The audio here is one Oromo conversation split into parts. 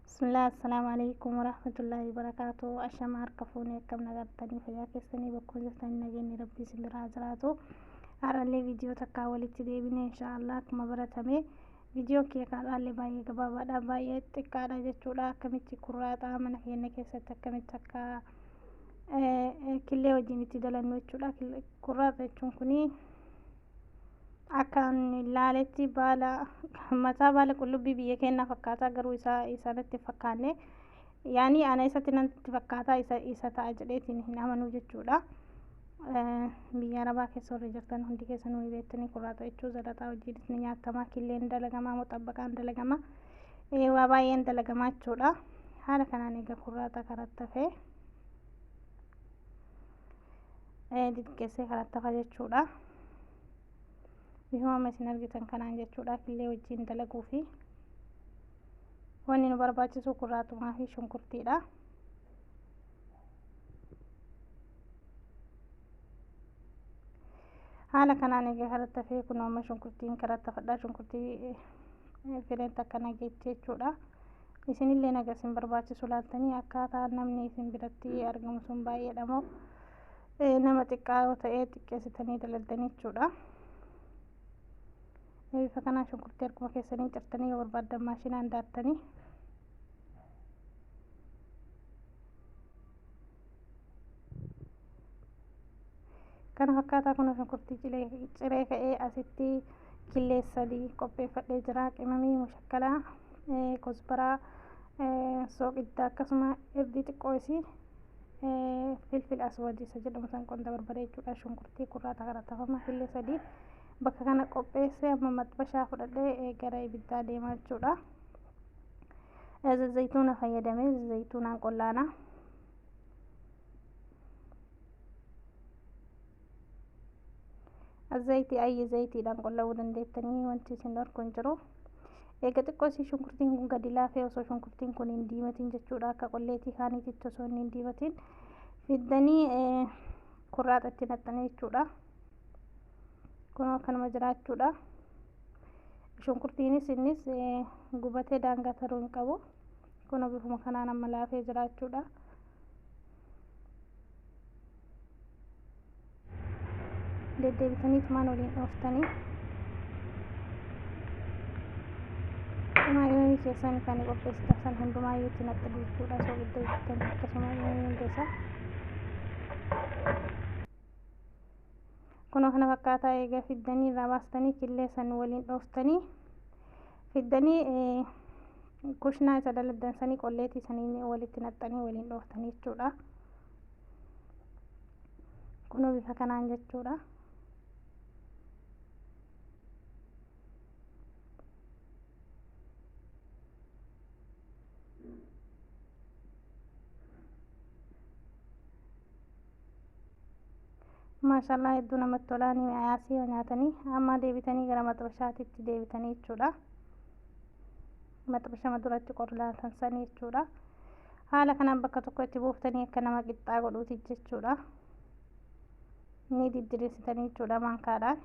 Bismillah, Assalaamu alaikum warahmatullahi wabarakatuh. Ashama harka fuunee akkam nagartanii fayyaa keessanii bakkoon jirtanii nageenyi rabbii isin biraa jiraatu. Har'allee viidiyoo takkaa walitti deebine inshaallah akkuma baratame viidiyoon kee kaadhaallee baay'ee gabaabaadha baay'ee xiqqaadha jechuudha akkamitti kurraaxaa mana keenya keessatti akkamitti akka killee wajjin itti dalannu jechuudha kurraaxa jechuun kunii Akkan ilaaletti baala mataa baala qullubbii biyya keenyaa fakkaata garuu isaa isa natti hin fakkaanne yaani ana isatti natti fakkaata isa isa ta'a jedheetiin hin amanuu jechuudha. Eh, Biyya arabaa keessa warri jirtan hundi keessa nuyi beektanii kurraaxa jechuu zalaxaa hojiinis ni nyaatama killeen dalagamaa moxabbaqaan dalagama Eh, waa baay'een dalagamaa jechuudha. Haala kanaan egaa kurraaxa karatti hafee. diqqeessee kanatti hafa jechuudha. Bifuma amma isin argitan kanaan jechuudha killee wajjin dalaguu fi wanni nu barbaachisu kurraatumaa fi shunkurtiidha. Haala kanaan egaa kanatti hafee kun amma shunkurtiin kanatti hafadha shunkurtii fileen takka nageetti jechuudha. Isinillee naga isin barbaachisu laaltanii akkaataa namni isin biratti argamu sun baay'eedha moo nama xiqqaa yoo ta'e xiqqeessitanii dalagdanii jechuudha. Bifa kanaan shunkurtii harkuma keessaniin cirtanii yoo barbaaddan maashinaan daattanii Kana fakkaataa kun shunkurtii ciree ka'ee asitti killee sadii qopheeffadhee jira. Qimamii mushakkalaa, kosbaraa, sooqidda akkasuma irdii xiqqoo isii filfil aswadii isa jedhamu san qonda barbaree jechuudha. Shunkurtii kurraata kana tafama killee sadii bakka kana qopheessee amma maxbashaa fudhadhee gara ibiddaa deemaa jechuudha. Zayituuna fayyadamee zayituunaan qollaanaa. Zayitii ayyee zayitiidhaan qullabuu dandeettanii wanti isin dhorku hin jiru. Eega xiqqoo isii shunkurtiin kun gadi laafee osoo shunkurtiin kun hin diimatiin jechuudha akka qolleetii kaaniititti osoo inni hin diimatiin fiddanii kurraaxa itti naqxanii jechuudha. Kun akkanuma jiraachuudha. Shunkurtiinis innis gubatee daangaa taruu hin qabu. Kun bifuma kanaan amma laafee jiraachuudha. Deddeebitanii tumaan waliin dhooftanii tumaa imamii keessan kan qopheessitan san hundumaa yoo itti naqxu jechuudha. Osoo gidda jirtan akkasuma imamii hunda isaa Kunoo kana fakkaataa eega fiddanii irraa baastanii killee san waliin dhooftanii fiddanii kushnaa isa daladdansanii qolleetii saniin walitti naqxanii waliin dhooftanii jechuudha. Kunoo bifa kanaan jechuudha. maashaallah hedduu namatti tolaa ni mi'aayaasii yoo nyaatanii ammaa deebitanii gara maxbashaatitti deebitanii jechuudha maxbashama duratti qorlaatan sanii jechuudha haala kanaan bakka tokko itti buuftanii akka nama qixxaa godhuuti jechuudha ni diddirisitanii jechuudha maankaadhaan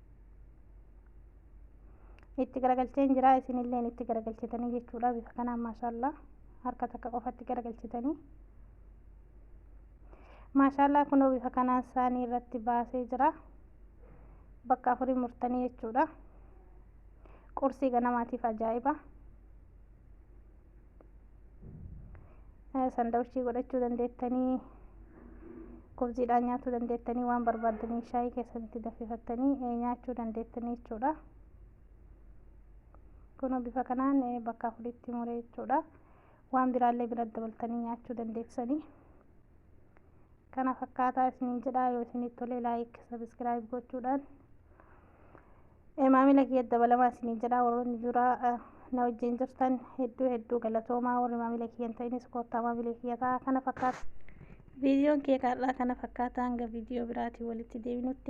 itti garagalcheen jira isinilleen itti garagalchitanii jechuudha bifa kanaan maashaallaa harka takka qofatti garagalchitanii maashaallaa kunoo bifa kanaan saanii irratti baasee jira bakka afurii murtanii jechuudha qursii ganamaatiif ajaa'iba sandawichii godhachuu dandeettanii kubziidhaan nyaachuu dandeettanii waan barbaaddanii shaayii keessatti danfifattanii nyaachuu dandeettanii jechuudha. Kunoo bifa kanaan bakka afuritti muree jechuudha. Waan biraallee bira dabaltanii nyaachuu dandeessanii. Kana fakkaataa isiniin jedhaa yoo isinitti tole laayik sabiskiraayib gochuudhaan Maamila kiyya dabalamaa isiniin jedha warroonni duraa na wajjin jirtan hedduu hedduu galatoomaa warri maamila kiyya hin ta'inis koottaa maamila kiyya ta'a kana fakkaata. Viidiyoon kee kaarraa kana fakkaata hanga viidiyoo biraatiin walitti deebinutti